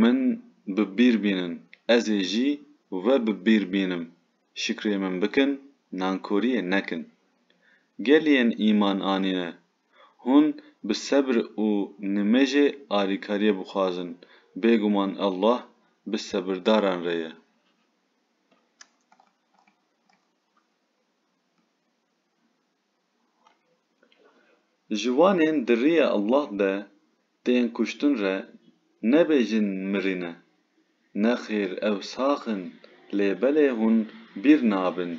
Min bi bîr bînin. Ez ê jî we bi bîr bînim. Şikrê min bikin, nankoriyê nekin. Geliyên îman anîne. Hûn bi sebr û nimêjê alîkariyê bixwazin, bêguman Allah bi sebirdaran re ye. Ji wanên di riyê Allah de tên kuştin re nebêjin mirîne. Nexêr ew sax in lê belê hûn bîr nabin.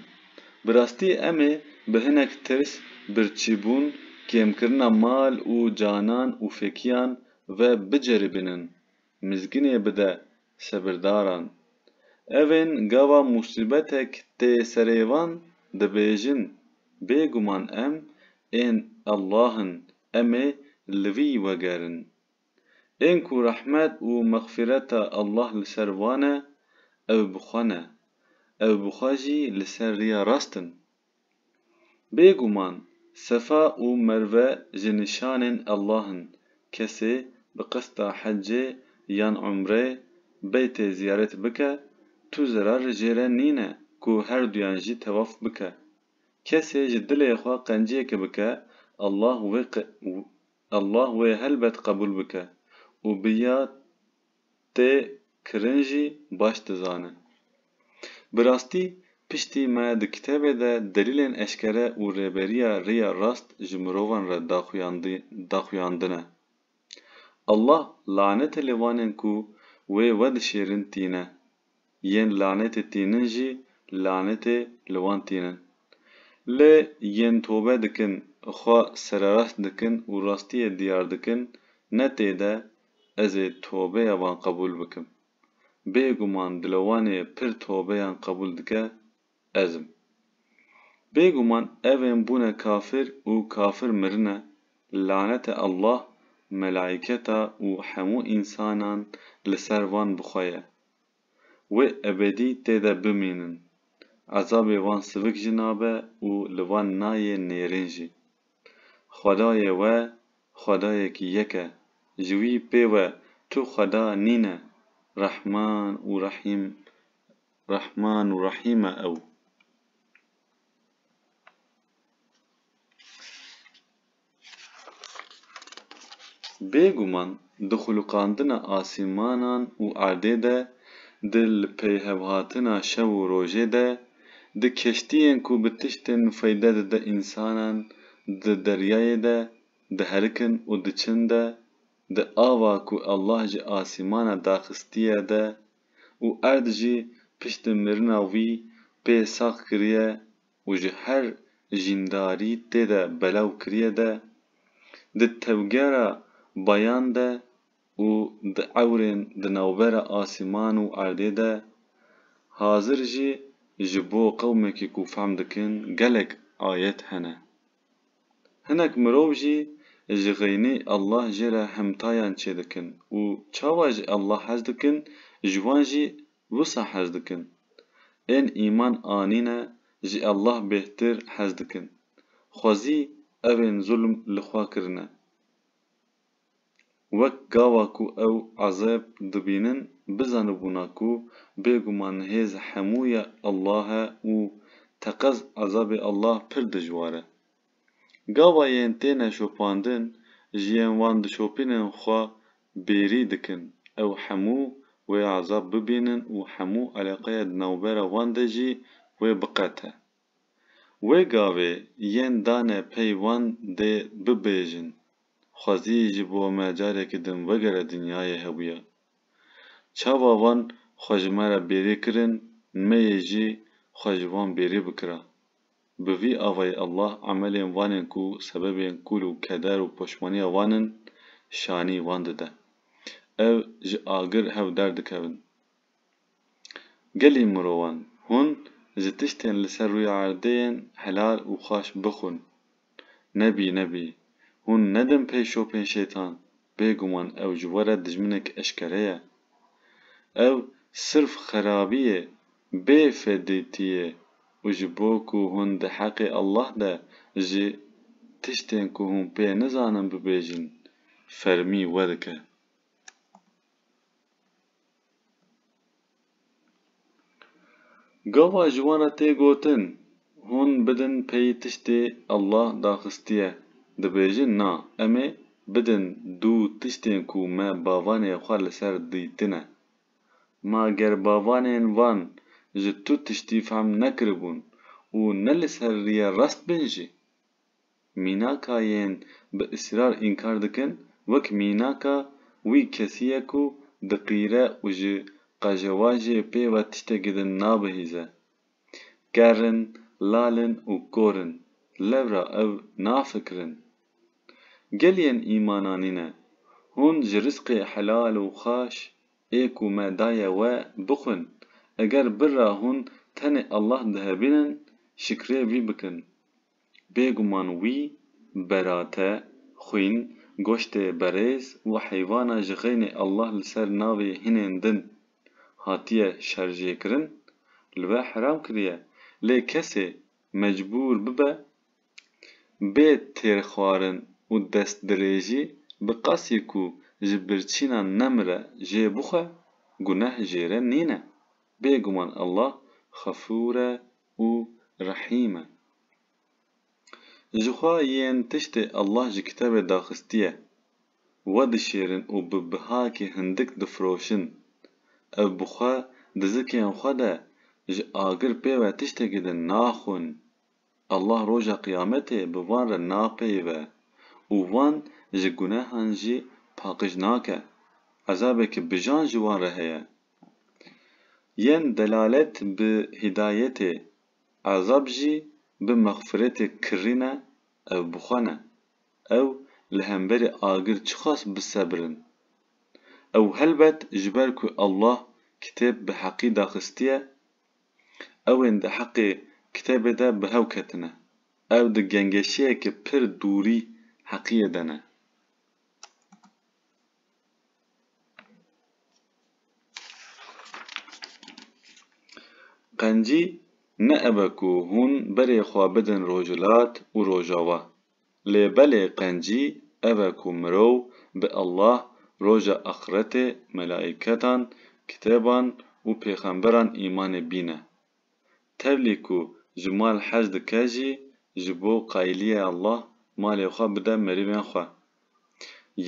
Bi rastî em ê bi hinek tirs, birçîbûn, kêmkirina mal û canan û fêkiyan ve biceribînin. mizginê bide sebirdaran. Evên gava musîbetek tê serê van dibêjin, Bêguman em ên Allah in, em ê li wî wegerin. Ên ku rehmet û mexfîreta Allah li ser wan e, ew bi xwe ne, ew bi xwe jî li ser riya rast in. Bêguman Sefa û Merve ji nîşanên Allah in, kesê bi qista hecê yan umreyê Beytê ziyarêt bike, tu zerar jê re nîne ku herduyan jî tewaf bike. Kesê ji dilê xwe qenciyeke bike Allah wê Allah wê helbet qebûl bike û bi ya tê kirin jî baş dizanin. Bi rastî piştî me di kitêbê de delîlên eşkere û rêberiya riya rast ji mirovan re daxuyandine. Allah lanetê li vanên ku wê we dişêrin tîne. yên lanetê tînin jî lanetê li wan tînin. Lê yên tobe dikin, xwe sererast dikin û rastiyê diyar dikin, ne tê de ez ê tobeya wan qebûl bikim. Bêguman dile wan ê pir tobeyan qebûl dike ez im. Bêguman ev ên bûne kafir û kafir mirine, lanete Allah, melaîketa û hemû însanan li ser van bi xwe ye. Wê ebedî tê de bimînin. Ezabê van sivik jî nabe û li van nayê nêrîn jî. Xwedayê we Xwedayekî yek e, ji wî pê we tu xweda nîne, Rehman û Rehîm Rehman û Rehîm e ew. Bêguman di xulûqandina asîmanan û erdê de, di li peyhevhatina şev û rojê de, di keştiyên ku bi tiştên feyde dide însanan di deryayê de diherikin û diçin de, di ava ku Allah ji asîmana daxistiye de û erd jî piştî mirina wî pê sax kiriye û ji her jîndarî tê de belav kiriye de, di tevgera bayan de û di ewrên di navbera asîman û erdê de, hazir jî ji bo qewmekî ku fehm dikin gelek ayet hene. Hinek mirov jî ji xeynî Allah jê re himtayan çêdikin û çawa ji Allah hez dikin ji wan jî wisa hez dikin. Ên îman anîne ji Allah bêhtir hez dikin. Xwezî evên zulm li xwe kirine. Wek gava ku ew ezeb dibînin bizanibûna ku bêguman hêz hemû ya Allah e û teqez ezabê Allah pir dijwar e. Gava yên têne şopandin ji yên wan dişopînin xwe bêrî dikin ew hemû wê ezab bibînin û hemû eleqeya di navbera wan de jî wê biqete. Wê gavê yên dane pey wan dê bibêjin, Xwezî ji bo me carekî din wegere dinyayê hebûye. Çawa wan xwe ji me re bêrî kirin, me yê jî xwe ji wan bêrî bikira. Bi vî avayî Allah emelên wanên ku sebebên kûl û keder û poşmaniya wan in, şanî wan dide. Ev ji agir hev derdikevin. Gelê mirovan, hûn ji tiştên li ser rûya erdê yên helal û xweş bixwin. Nebî nebî, hûn nedin pey şopên şêtan, bêguman ew ji we re dijminek eşkere ye. Ew sirf xerabî yê, bê fedîtî yê û ji bo ku hûn di heqê Allah de jî tiştên ku hûn pê nizanin bibêjin, fermî we dike. Gava ji wan re tê gotin, Hûn bidin pey tiştê Allah daxistiye. Dibêjin na, em ê bidin du tiştên ku me bavanê xwe li ser dîtine. Ma ger bavanên van ji tu tiştî fehm nekiribûn û ne li ser rîya rast bin jî? Mînaka yên bi israr înkar dikin wek mînaka wî kesî ye ku diqîre û ji qejewajê pê ve tiştekî din nabihîze. Ker in, lal in û kor in, lewra ew nafikirin. Gel yên îmana nîne, hûn ji rizqê helal û xweş ê ku me daye we bixwin, eger birra hûn tenê Allah dihebînin, şikrê wî bikin. Bêguman wî berate, xwîn, goştê berêz û heyvana ji xeynê Allah li ser navê hinên din hatiye şerjêkirin, li we heram kiriye. Lê kesê mecbûr bibe bê têrxwarin û destdirêjî bi qasî ku ji birçîna nemire jê bixwe, guneh jê re nîne. Bêguman Allah xefûr e, û Rehîm e. Jixwe yên tiştê Allah ji kitebê daxistiye, wedişêrin û bi bihakê hindik difiroşin, ev bi xwe di zikên xwe de ji agir pê ve tiştekî din naxwin, Allah roja qiyametê bi van re napeyive û van ji gunehan jî paqij nake, ezabê ki bijan ji wan re heye. Yên delalet bi hîdayetê ezab jî bi mexfiretê kirrîne ew bi xwe ne. Ew li hemberî agir çiqas bisebirin. Ew helbet ji ber ku Allah kitêb bi heqî daxistiye, ewên di heqê kitêbê de bi hew ketine. Ew di gengeşiyeke pir dûrî heqiyê de ne. Qencî ne ev e ku hûn berê xwe bidin rojhilat û rojawa. Lê belê qencî ev e ku mirov bi Allah, roja axretê, melaîketan, kitêban û pêxemberan îmanê bîne. Tevlî ku ji mal hez dike jî ji bo qayîliyê Allah malê xwe bide merîvên xwe.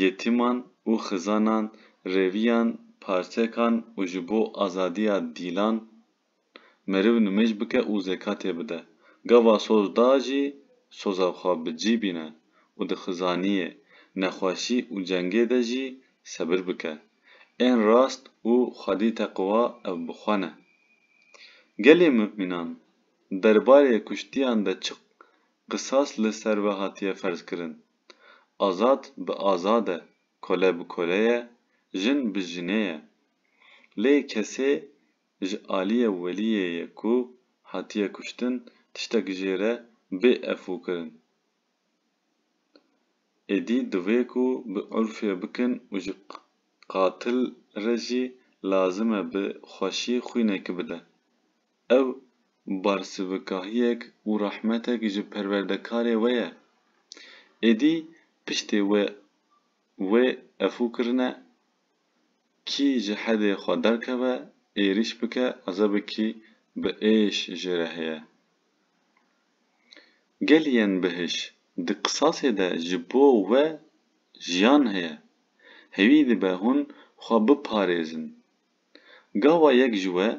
Yetîman û xizanan rêviyan parçekan û ji bo azadiya dîlan meriv nimêj bike û zekatê bide. Gava soz da jî soza xwe bi cî bîne û di xizaniyê, nexweşî û cengê de jî sebir bike. Ên rast û xwedî teqwa ev bi xwe ne. Gelê mumînan derbarê kuştiyan de çi qisas li ser we hatiye ferzkirin? Azad bi azad e, kole bi kole ye, jin bi jinê ye. Lê kesê ji aliyê weliyê ye ku hatiye kuştin tiştek jê re bê efû kirin. Êdî divê ku bi urfê bikin û ji qatil re jî lazim e bi xweşî xwînekî bide. Ew barsivkahiyek û rehmetek ji perwerdekarê we ye. Êdî piştê wê wê efû kirine, kî ji hedê xwe derkeve, êrîş bike, ezebikî bi êş jê re heye. Gelî yên bihiş di qisasê de ji bo we jiyan heye. Hêwî dibe hûn xwe biparêzin. Gawa yek ji we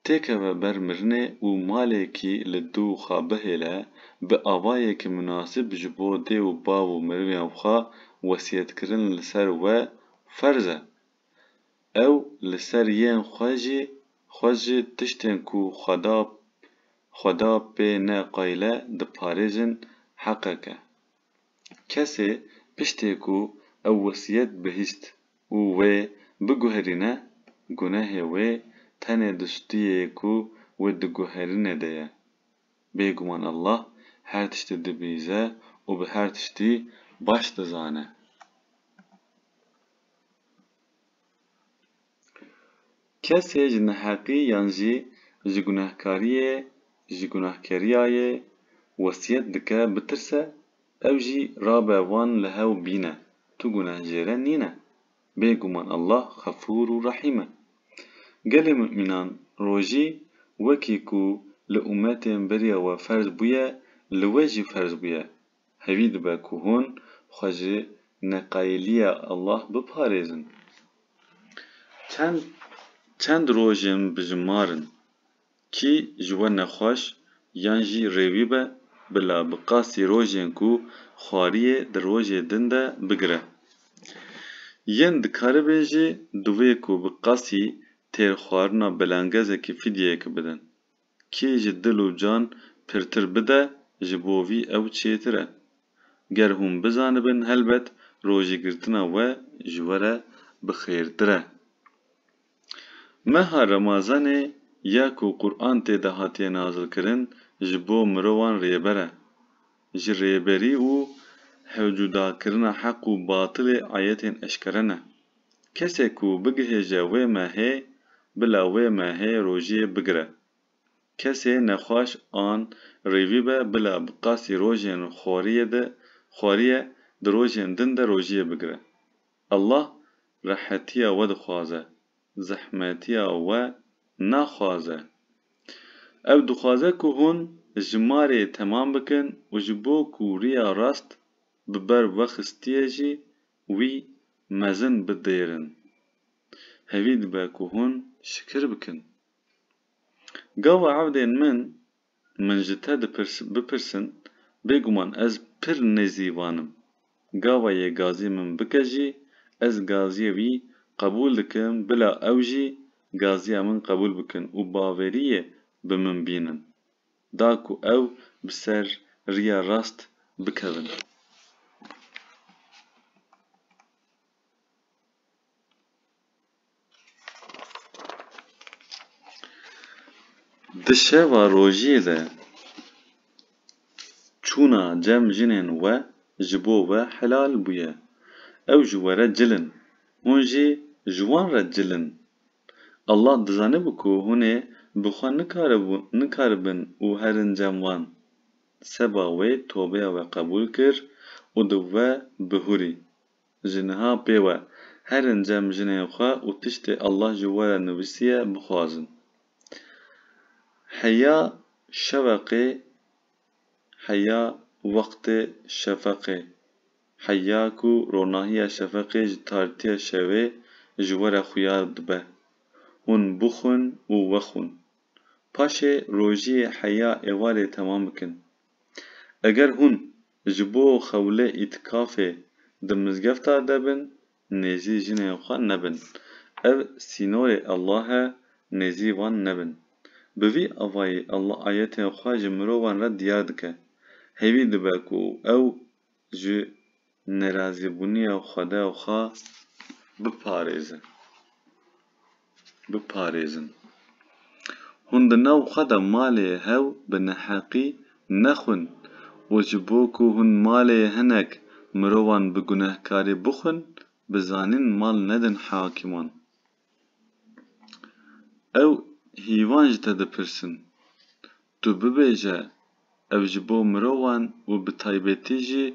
têkeve ber mirinê û malekî li dû xwe bihêle, bi avayekî minasib ji bo dê û bav û meriviyan xwe wesiyetkirin li ser we ferz e. Ew li ser yên xwe jî xwe ji tiştên ku Xweda Xweda pê ne qayle diparêzin heqek e. Kesê piştê ku ew wesiyet bihîst û wê biguherîne gunehê wê tenê di stûyê yê ku wê diguherîne de ye. Bêguman Allah her tiştî dibîze û bi her tiştî baş dizane. Kesê ji neheqî yan jî ji gunehkariyê, ji gunehkeriyayê wesiyet dike bitirse, ew jî rabe wan li hev bîne, tu gunehjêre nîne. Bêguman Allah Xefûr û Rehîm e. Gelê mumînan rojî wekî ku li umetên beriya we ferz bûye li we jî ferz bûye. Hevî dibe ku hûn xwe ji neqayîliya Allah biparêzin. Çend çend rojên bijimar in, kî ji we nexweş yan jî rêwî be, bila bi qasî rojên ku xwariyê di rojê din de bigire. Yên dikaribin jî divê ku bi qasî têrxwarina belangezekî fidyeyekê bidin. Kê ji dil û can pirtir bide ji bo vî ew çêtir e. Ger hûn bizanibin helbet rojêgirtina we ji we re bi xêrtir e. Meha Remazanê ya ku Quran tê de hatiye nazilkirin ji bo mirovan rêber e. Ji rêberî û hewcudakirina heq û batilê ayetên eşkere ne. Kesê ku bigihêje wê mehê, bila wê mehê rojê bigire. Kesê nexweş an rêvî be bila bi qasî rojên xwariyê de xwariye di rojên din de rojê bigire. Allah rehetiya we dixwaze, zehmetiya we naxwaze. Ew dixwaze ku hûn ji marê temam bikin û ji bo ku riya rast bi ber vexistiyê jî Wî mezin bidêrin. Hevî dibe ku hûn şikir bikin. Gava evdên min, min ji te bipirsin, bêguman ez pir nêzî van im. Gava yê gazî min bike jî, ez gaziyê wî qebûl dikim bila ew jî gaziya min qebûl bikin û baveriyê bi min bînin. da ku ew bi ser riya rast bikevin. Di şeva rojê de çûna cem jinên we ji bo we helal bûye. Ew ji we re cil in. Hûn jî ji wan re cil in. Allah dizanibû ku hûn ê bi xwe nikaribin û herin cem wan. Seba wê tobeya we qebûl kir û di we bihûrî. Ji niha pê we, herin cem jinên xwe û tiştê Allah ji we re nivîsiye bixwazin. Heya şeweqê heya wextê şefeqê, heya ku ronahiya şefeqê ji tarîtiya şevê ji we re xuyar dibe. Hûn bixwin û wexwin. Paşê rojiyê heya êvarê temam bikin. Eger hûn ji bo xewlê îtikafê di mizgefta de bin, Nêzî jinên xwe nebin. Ev sînorê Allah e, nêzî wan nebin. Bi vî avayî Allah ayetên xwe ji mirovan re diyar dike. Hêvî dibe ku ew ji nerazîbûniya Xwede xwe biparêze. biparêzin. Hûn di nav xwe de malê hew bi neheqî nexwin û ji bo ku hûn malê hinek mirovan bi gunehkarî bixwin, bi zanîn mal nedin hakîman. Ew hîvan ji te dipirsin, Tu bibêje, ev ji bo mirovan û bi taybetî jî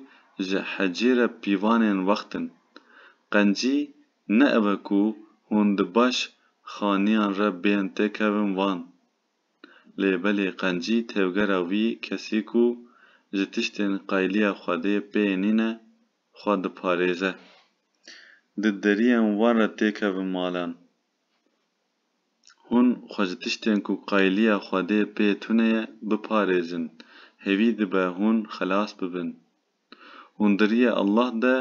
ji hecî re pîvanên wext in. Qencî ne ev e ku hûn di baş xaniyan re bên têkevin van. Lê belê qencî tevgera wî kesî ku ji tiştên qayliya Xwedê pê nîne, xwe diparêze. Di deriyên wan re têkevin malan. Hûn xwe ji tiştên ku qayîliya Xwedê pê tune ye biparêzin, hêvî dibe hûn xelas bibin. Hûn diriyê Allah de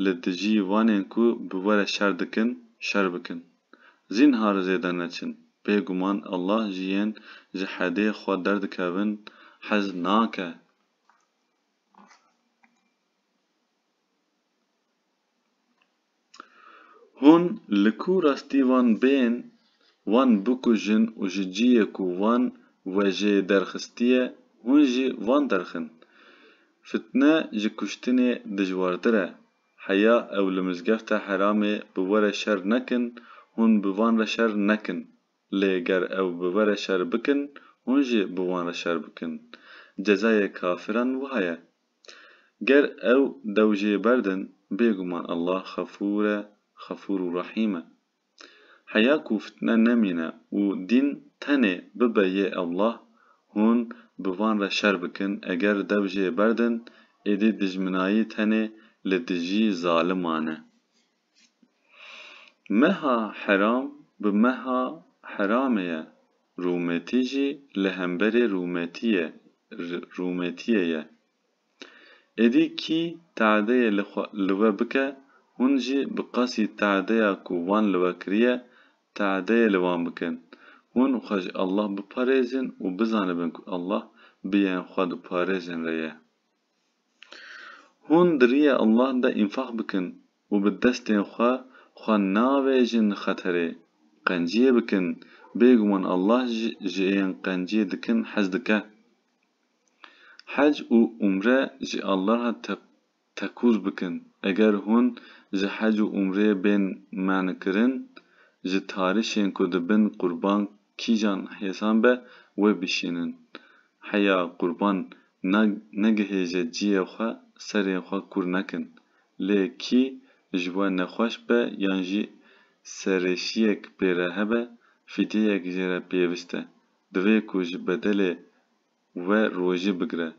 li dijî wanên ku bi we re şer dikin, şer bikin. Zînhar zêde neçin, bêguman Allah ji yên ji hedê xwe derdikevin hez nake. Hûn li ku rastî wan bên, wan bikujin û ji ciyê ku wan wejê derxistiye hûn jî wan derxin. Fitne ji kuştinê dijwartir e. Heya ew li mizgefta Heramê bi we re şer nekin, hûn bi van re şer nekin. Lê ger ew bi we re şer bikin, hûn jî bi wan re şer bikin. Cezayê kafiran wiha ye. Ger ew dew jê berdin bêguman Allah xefûr e, xefûr û rehîm e. Heya ku fitne nemîne û dîn tenê bibe yê Allah, hûn bi van re şer bikin, eger dew jê berdin êdî dijminayî tenê li dijî zaliman e. Meha heram bi meha heramê ye, rûmetî jî li hemberê rûmetiyê rûmetiyê ye. Êdî kî te'deyê li xwe li we bike, hûn jî bi qasî te'deya ku wan li we kiriye, te'deyê li wan bikin. Hûn xwe ji Allah biparêzin û bizanibin ku Allah bi yên xwe diparêzin re ye. Hûn di riyê Allah de înfaq bikin û bi destên xwe xwe navêjin xeterê. Qenciyê bikin, bêguman Allah ji ên qenciyê dikin hez dike. Hec û umre ji Allaha tekûz bikin. Eger hûn ji hec û umreyê bên men'kirin, ji tarişên ku dibin qurban kîjan hêsan be wê bişînin. Heya qurban na negihêje ciyê xwe serê xwe kûr nekin. Lê kî ji we nexweş be yan jî serêşiyek pê re hebe fîdyeyek jê re pêvist e. Divê ku ji bedelê we rojî bigire.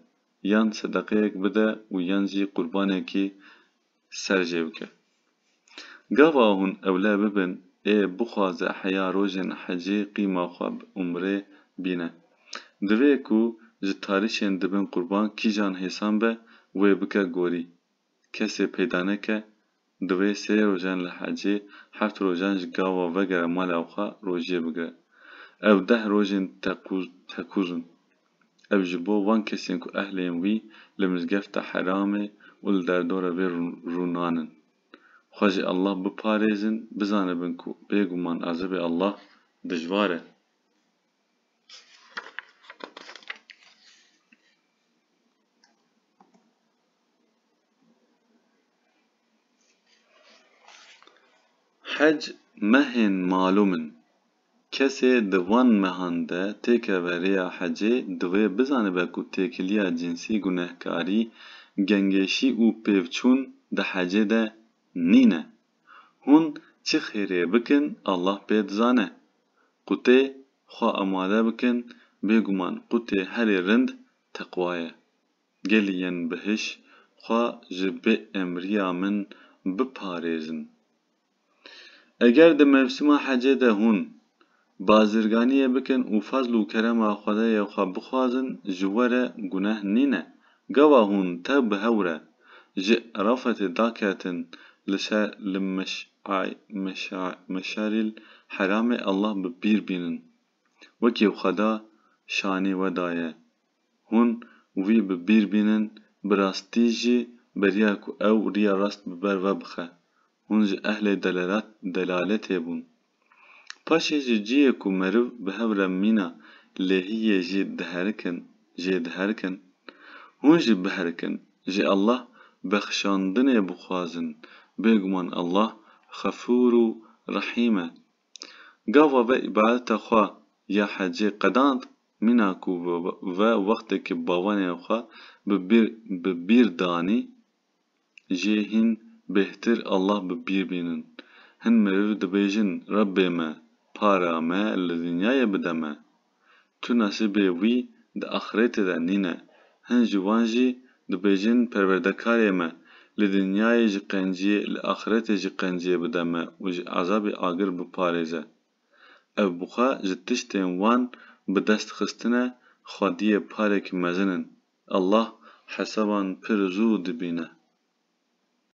Yan sedeqeyek bide û yan jî qurbanekî ser jê bike. Gava hûn ewle bibin ê bixwaze heya rojên hecê qîma xwe bi umrê bîne. Divê ku ji tarîşên dibin qurban kîjan hêsan be wê bike gorî. Kesê peyda neke divê sê rojan li hecê heft rojan ji gava vegere mala xwe rojiyê bigire. Ev deh rojên tekûz tekûz in. Ev ji bo van kesên ku ehlên wî li mizgefta heramê û li derdora vê rûnan in. Xwe ji Allah biparêzin, bizanibin ku bêguman azibê Allah dijwar e. Hec mehên malûm in. Kesê di van mehan de têkeve rêya hecê divê bizanibe ku têkiliya cinsî gunehkarî, gengêşî û pêvçûn di hecê de nîne. Hûn çi xêrê bikin Allah pê dizane. Qûtê xwe amade bikin bêguman qûtê herî rind teqwa ye. Gelî yên bihiş xwe ji bêemriya min biparêzin. Eger di mevsima hecê de hûn bazirganiyê bikin û fezl û kerema Xwedayê xwe bixwazin ji we re guneh nîne. Gava hûn tev bi hew re ji Erafetê daketin li ser li Meş'arîl Heramê Allah bi pîr bînin. Wekî Xweda şanî we daye. Hûn wî bi bîr bînin, bi rastî jî beriya ku ew riya rast bi ber ve bixe. Hûn ji ehlê delaletê bûn. Paşê ji ciyê ku meriv bi hev re mîna lehiyê jî diherikin, jê diherikin. Hûn jî biherikin, ji Allah bexşandinê bixwazin, bêguman Allah Xefûr û Rehîm e. Gava ve îbadeta xwe ya hecê qedand. Mîna ku ve wextekî bawenên xwe bi bîr danî jê hîn bêhtir Allah bi bîr bînin. Hin meriv dibêjin Rebbê me para me li dinyayê bide me. Tu nesîbê wî di axirêtê de nîne. Hin ji wan jî dibêjin Perwerdekarê me li dinyayê ji qenciyê li axirêtê jî qenciyê bide me û ji ezabê agir biparêze. Ev bi xwe ji tiştên wan bi dest xistine xwediyê parek mezin in. Allah hesaban pir zû dibîne.